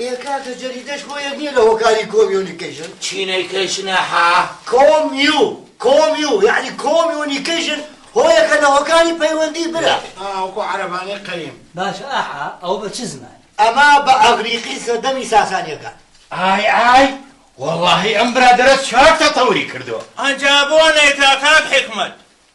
ئێ کاکە جەریدەش بۆ یەک نیە لە هۆکاری کۆمیونیکەیشن. چینەیکەیشنە هە؟ کۆمیو کۆمیو یەعنی کۆمیونیکەیشن هۆیەکە لە هۆکاری پەیوەندی برا. ئا وەکو عەرەبانەی قەیم. باشە ئاحا ئەوە بە چ زمانێک. ئەمە بە ئەغریقی سەردەمی ساسانیەکان. ئای ئای وەڵاهی ئەم برادەرە چاک تەتەوری کردوە. ئەجا بۆ نەیتە کاک حیکمەت.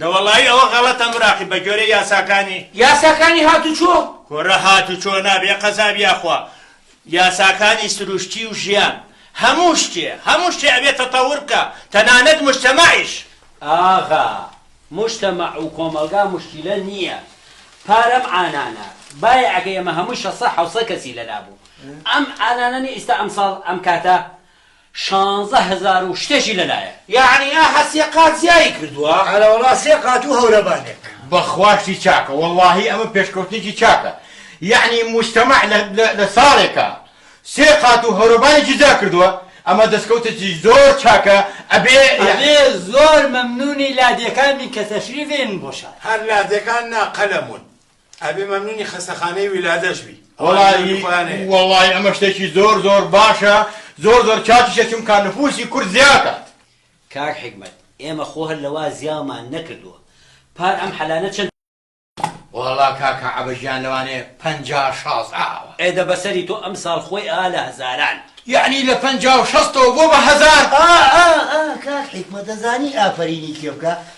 دە وەڵایی ئەوە غەڵەتە مراقیب بە گۆرەی یاساکانی. یاساکانی هاتوچۆ. کورە هاتوچۆ نا بێ قەزاب یاخوا یاساکانی سروشتی و ژیان هەموو شتێ هەموو شتێ ئەبێ تەتەور بکا تەنانەت موجتەمەعیش. ئاغا موجتەمەع و کۆمەڵگا موشکیلە نیە پارەم ئانانە بایەعەکەی ئەمە هەمووی شەست سەد حەوت سەد کەسی لەلا بوو ئەم ئانانە نیە ئیستا ئەمساڵ ئەم کاتە شانزە هەزار و شتێکی لەلایە. یەعنی ئاها سێ قات زیایی کردووە؟ ئەرەوەڵا سێ قات و هەورەبانێک. بەخوا شتی چاکە وەڵاهی ئەمە پێشکەوتنێکی چاکە یەعنی موجتەمەع لە ساڵێکا سێ قات و هەورەبانێکی جیا کردووە ئەمە دەسکەوتێکی زۆر چاکە ئەبێ زۆر مەمنونی لادێکان بین کە تەشریف بێنن بۆ شار. هەر لادێکان نا قەلەمون. ئەبێ مەمنونی خەستەخانەی ولادەش بی ئەوان مێردی خۆیان هەیە. وەڵایی ئەمە شتێکی زۆر زۆر باشە زۆر زۆر کاتیشە چونکا نفوسی کورد زیاکات. کاک حیکمەت ئێمە خۆ هەر لەوا زیاومان نەکردووە پار ئەم حەلانە چەند. وەڵا کاکە عەبە گیان لەوانەیە پەنجا شاز ئاوە. ئێ دە بەسەری تۆ ئەمساڵ خۆی ئا لە هەزاران. یەعنی لە پەنجا و شەستەوە بۆ بە هەزار. ئا ئا ئا کاک حیکمەت دەزانی ئافەرینی کێ بکا؟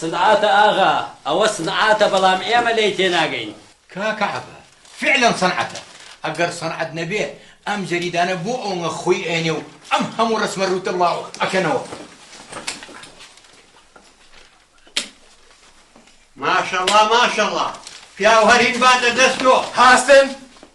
صنعاتە ئاغا، ئەوە صنعاتە بەڵام ئێمە لێی تێناگەین. کاکە عەبە، فیعلەن صنعاتە، ئەگەر صنعات نەبێ ئەم جەریدانە بۆ ئەونگە خوی ئەیەنێ و ئەم هەموو رەسمە رووتە بڵاو ئەکەنەوە. ماشەڵا ماشەڵا پیاو هەرین بات لە دەست تۆ. هەستن؟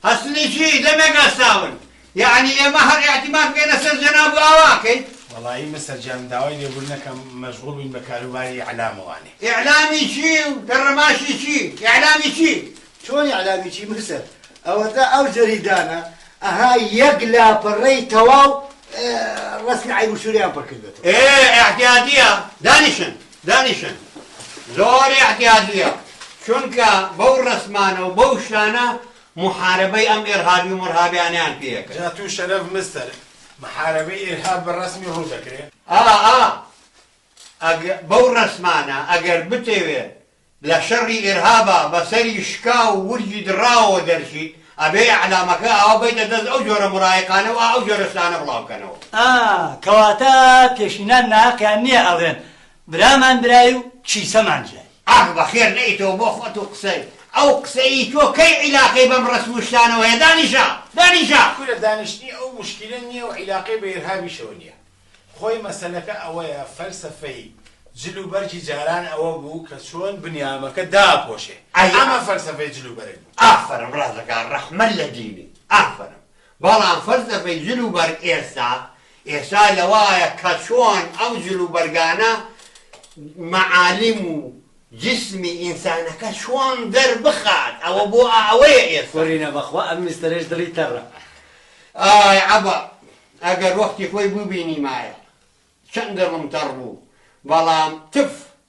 هەستنی چی؟ دەمێک هەستاون. یەعنی ئێمە هەر ئیعتیماد بکەینە سەر جەناب و ئاوا کەین؟ وەڵایی مستەر جان داوای لێبوردن ئەکەم مەشغوڵ بووین بە کاروباری ئیعلام وانێ. ئیعلامی چی و دەڕەماشی چی؟ ئیعلامی چی؟ چۆن ئیعلامی چی مستەر؟ ئەوەتا ئەو جەریدانە ئەها یەک لاپەڕەی تەواو ڕەسمی عەیب و شوورەیان پڕ کردبێتەوە. ئێ ئیعتیادییە دانیشن دانیشن زۆر ئیعتیادییە چونکە بەو ڕەسمانە و بەو شتانە موحارەبەی ئەم ئێرهابی و مڕهابیانەیان پێ ئەکەن. جا تو شەرەف مستەر محارەبەی ئێرهاب بە ڕەسمی ڕوو دەکرێ؟ ئا ئا ئەگ بەو ڕەسمانە ئەگەر بتەوێ لە شەڕی ئێرهابا بە سەری شکاو و ورگی دڕاوەوە دەرچیت ئەبێ ئێعلامەکە ئاوا بەیتە دەست ئەو جۆرە مڕایقانە و ئا ئەو جۆرە شتانە بڵاو کەنەوە. ئا کەواتە پێشینان ناهەقیان نیە ئەڵێن برامان برای و کیسەمان جای. ئاخ بەخێر نەیتەوە بۆ خۆت و قسەی ئەو قسە ی تۆ کەی عیلاقەی بەم ڕەسم و شتانەوە هەیە دانیشە دانیشە. کورە دانیشتنی ئەو موشکیلە نیە و عیلاقەی بە ئیرهابیشەوە نیە خۆی مەسەلەکە ئەوەیە فەلسەفەی جل و بەرگی جاران ئەوە بوو کە چۆن بنیامەکە داپۆشێ ئەمە فەلسەفەی جل و بەرگ بوو. ئافەرم ڕازەکە ڕەحمە لە دینی ئافەرم بەڵام فەرزە بەی جل و بەرگ ئێستا ئێستا لەوەایە کە چۆن ئەو جل و بەرگانە مەعالم و جسمی ئینسانەکە چۆن دەربخات ئەوە بۆ ئەوەیە ئێستا. قۆرینە بەخوا ئەم میستەرەش دڵی تەڕە. ئای عەبە ئەگەر وەختی خۆی بوبینیمایە چەند دڵم تەڕ بوو بەڵام تف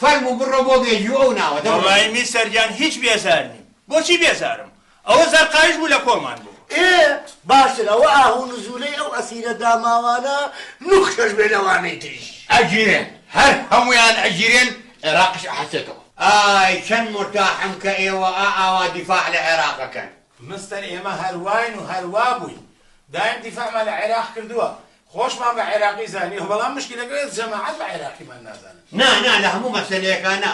فەرموو بڕۆ بۆ بێجوو ئەو ناوە دەبڕێ. وەڵایی میسر گیان هیچ بێزار نیم. بۆچی بێزارم؟ ئەوە زەرقاویش بوو لە کۆمان بوو. ئێ باشتر ئەوە ئاه و نزولەی ئەو ئەسیرە داماوانە نوخشەش بێ لەوانەی تریش. ئەگیرێن هەر هەموویان ئەگیرێن عێراقیش ئەحەسێتەوە. ئای چەند مورتاحم کە ئێوە ئا ئاوا دیفاع لە عێراق ئەکەن. مستەر ئێمە هەر واین و هەر وابووین دایم دیفاعمان لە عێراق کردووە خۆشمان بە عێراقی زانیوە بەڵام مشکیلەکە ئێس جەماعەت بە عێراقیمان نازانن. نا نا لە هەموو مەسەلەیەکا نا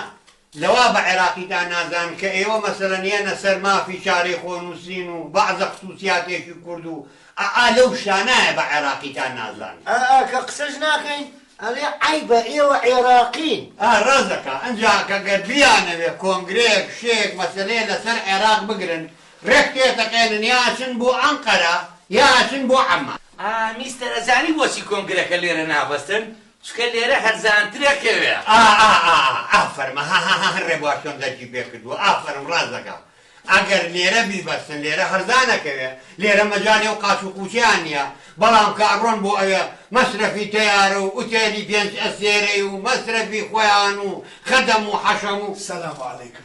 لەوا بە عێراقیتان نازانن کە ئێوە مەسەلەن یەنە سەر مافی چارەی خۆ نووسین و بەعزە خسووسیاتێکی کورد و ئا ئا لەو شتانایە بە عێراقیتان نازانن. ئا ئا کە قسەش ناکەین ئەڵێ عەیبە ئێوە عێراقین. ئا ڕاست دەکا ئنجا کە گەر بیانەوێ کۆنگرەیەک شتێک مەسەلەیە لە سەر عێراق بگرن ڕێک تێتەقێنن یا ئەچن بۆ ئەنقەرە یا ئەچن بۆ عەممان. ئا میستەر ئەزانی بۆچی کۆنگرەکە لێرە نابەستن؟ چونکە لێرە هەرزانترە کەوێ. ئا ئا ئا ئافەرم هەهەهە ڕێبوار چۆن دەرکی پێ کردووە ئافەرم ڕاست دەکا ئەگەر لێرە بیبەستن لێرە هەرزانە کەوێ لێرە مەجالی ئەو قاچ و قوچیان نیە بەڵام کە ئەڕۆن بۆ ئەوێ مەسرەفی تەیارە و ئوتێلی پێنج ئەستێرەی و مەسرەفی خۆیان و خەدەم و حەشەم و سلام علیکم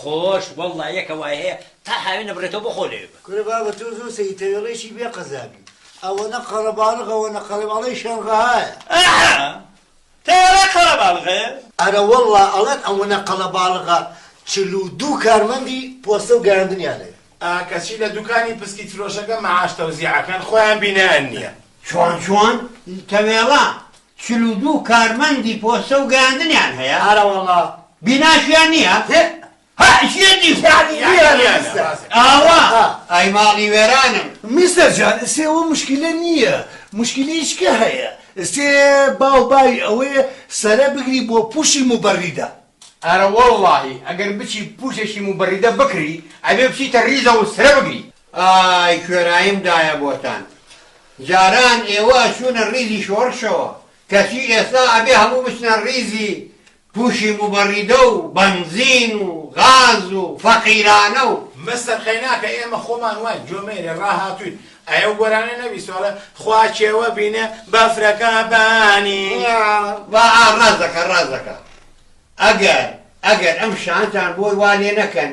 خۆش واللە یەکە وای هەیە تا هاوێن نەبڕێتەوە بۆ خۆ لەوێ بە. کورە بابە تۆ زۆر سەیری تەوێڵەیەکی بێ قەزابی ئەوەنە قەرەباڵغ ئەوەنە قەرەب ئەڵێی شەنغەهایە. ئەها تەوێڵە قەرەباڵغە. ئەرە وەڵا ئەڵێن ئەوەنە قەلەباڵغە چل و دوو کارمەندی پۆستە و گەیاندنیان لەوێ. ئا کەچی لە دوکانی پسکیت فرۆشەکە مەعاش تەوزیع ئەکەن خۆیان بینایان نیە. چۆن چۆن تەوێڵە؟ چل و دوو کارمەندی پۆستە و گەیاندنیان هەیە. ئارەوەڵا. بیناشیان نییە؟ هئ. هئ چییە دی خۆ؟ یانی وێرانە مستەر. ئاوا؟ ئای ماڵی وێرانم. مستەر جان ئستێ ئەوە مشکیلە نییە، مشکیلەیچ کە هەیە ئستێ با و بای ئەوەیە سەرە بگری بۆ پووشی موبەریدە. ئارەوەڵڵاهی ئەگەر بچی پووشێکی موبەریدە بکری ئەبێ بچیتە ریزەوە و سرە بگری. ئای کوێراییم دایە بۆتان جاران ئێوە ئەچوونە ڕیزی شۆڕشەوە کەچی ئێستا ئەبێ هەموو بچنە ڕیزی پوشی موبەڕیدە و بەنزین و غاز و فەقیرانە و. مستەر قەیناکە ئێمە خۆمان واین جۆمێرێ ڕاهاتووین ئەی ئەو گۆرانیە نەبیستوە خوا کێوە بینێ بەفرەکە بانی. وا ئا ڕاست دەکا ڕاست دەکا ئەگەر ئەگەر ئەم شانتان بۆی وا لێ نەکەن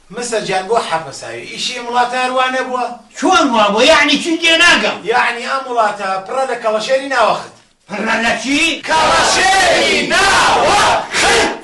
مسە جان بۆ حەپە ساوی. ئیشی ئم وڵاتە هەر وا نەبووە؟ چۆن وا بووە یەعنی چی تێناگەم. یەعنی ئەم وڵاتە پڕە لە کەڵەشێری ناوەخت. پڕە لە چی؟ کەڵەشێری ناوەخت.